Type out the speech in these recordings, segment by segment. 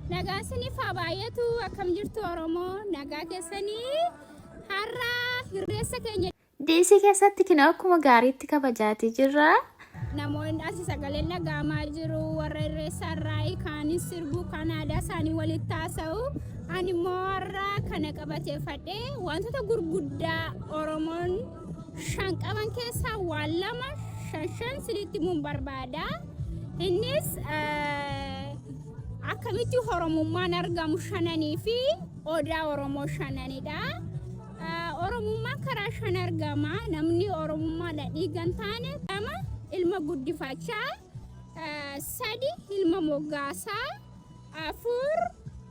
Nagaa isiniif haa baay'atu akkam jirtu Oromoo nagaa keessanii har'a hirreessa keenya. Diisii keessatti kina akkuma gaariitti kabajaatii jirra. Namoonni asi sagaleen dhaga'amaa jiru warra hirreessa irraa kaanis sirbuu kan aadaa isaanii walitti haasa'u. Ani immoo har'a kana qabateeffadhee wantoota gurguddaa Oromoon shan qaban keessaa waa lama shan shan sinitti himuun barbaada. Innis eh, akkamitti Oromummaan argamu shananii fi odaa Oromoo shananidha. Eh, Oromummaan karaa shan argama. Namni Oromummaadha dhiigan taane lama ilma guddifachaa, eh, sadi ilma moggaasaa, afur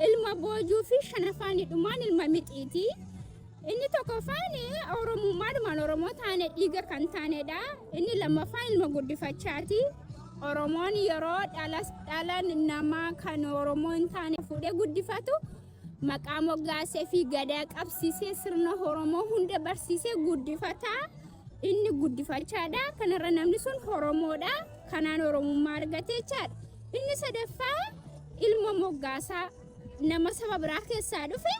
ilma boojuu fi shanafaan dhumaan ilma mixiiti. Inni tokkoffaan Oromummaadhumaan Oromoo taane dhiiga kan taanedha. Inni lammaffaan ilma guddifachaati. Oromoon yeroo dhalas dhalan nama kan Oromoo hin taane fuudhee guddifatu maqaa moggaasee fi gadaa qabsiisee sirna Oromoo hunda barsiisee guddifata. Inni guddifachaadha. Kanarra namni sun Oromoodha. Kanaan Oromummaa argate jechaadha. Inni sadaffaa ilma moggaasaa. nama saba biraa keessaa dhufe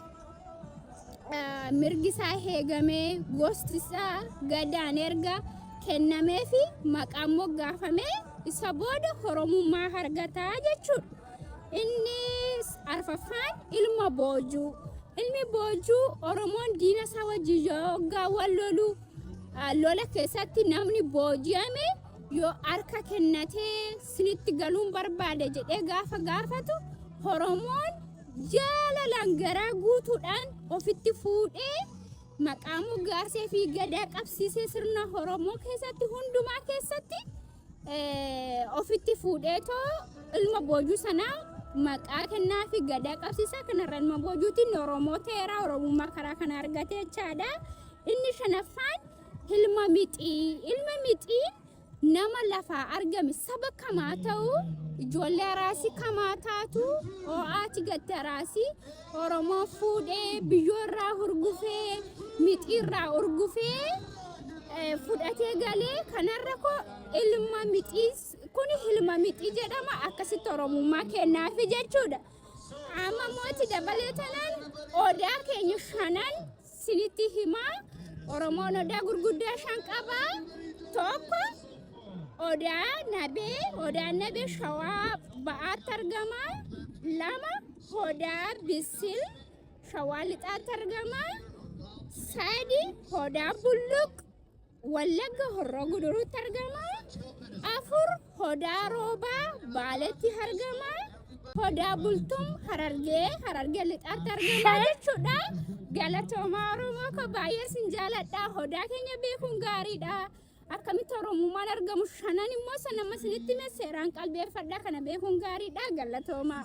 eh, mirgi isaa heegamee gosti isaa gadaan erga kennamee fi maqaan moggaafamee isa booda horomummaa argataa jechuudha. Inni arfaffaan ilma boojuu. Ilmi boojuu Oromoon diina isaa wajjin yoo hoggaa wal lolu ah, lola keessatti namni booji'ame yoo harka kennatee sinitti galuun barbaada jedhee gaafa gaafatu Oromoon jaalalaan garaa guutuudhaan ofitti fuudhee maqaa moggaasee fi gadaa qabsiisee sirna Oromoo keessatti hundumaa keessatti ofitti fuudhee too ilma boojuu sanaa maqaa kennaa fi gadaa qabsiisaa kanarra ilma boojuutiin Oromoo ta'eera Oromummaa karaa kana argatee jechaadha. Inni shanaffaan ilma mixii ilma mixii nama lafaa argame saba kamaa ta'u ijoollee araasii kamaa taatu oo'aati gatte araasii oromoo fuudhee biyyoo irraa hurgufee mixii irraa urgufee eh, fudhatee galee kanarra koo ilma mixii kun ilma mixii jedhama akkasitti oromummaa kennaafi jechuudha amma mooti dabalee tanaan odaa keenya shanan Sinitti himaa Oromoon odaa gurguddaa shan qaba. Tokko odaa nabee, odaan nabee shawaa ba'aatti argama. Lama odaa bisil shawaa lixaatti argama. Sadi odaa bulluq Wallagga Horroo Guduruutti argama. Afur Hodaa Roobaa Baaletti argama. Hodaa Bultum Harargee Harargee Lixaatti argama jechuudha. Galatoomaa Oromoo koo baay'ee sin jaaladha. Hodaa keenya beekuun gaariidha. Akkamitti Oromummaan argamu shanan immoo san amma isinitti hime seeraan qalbeeffadha kana beekuun gaariidha. Galatoomaa.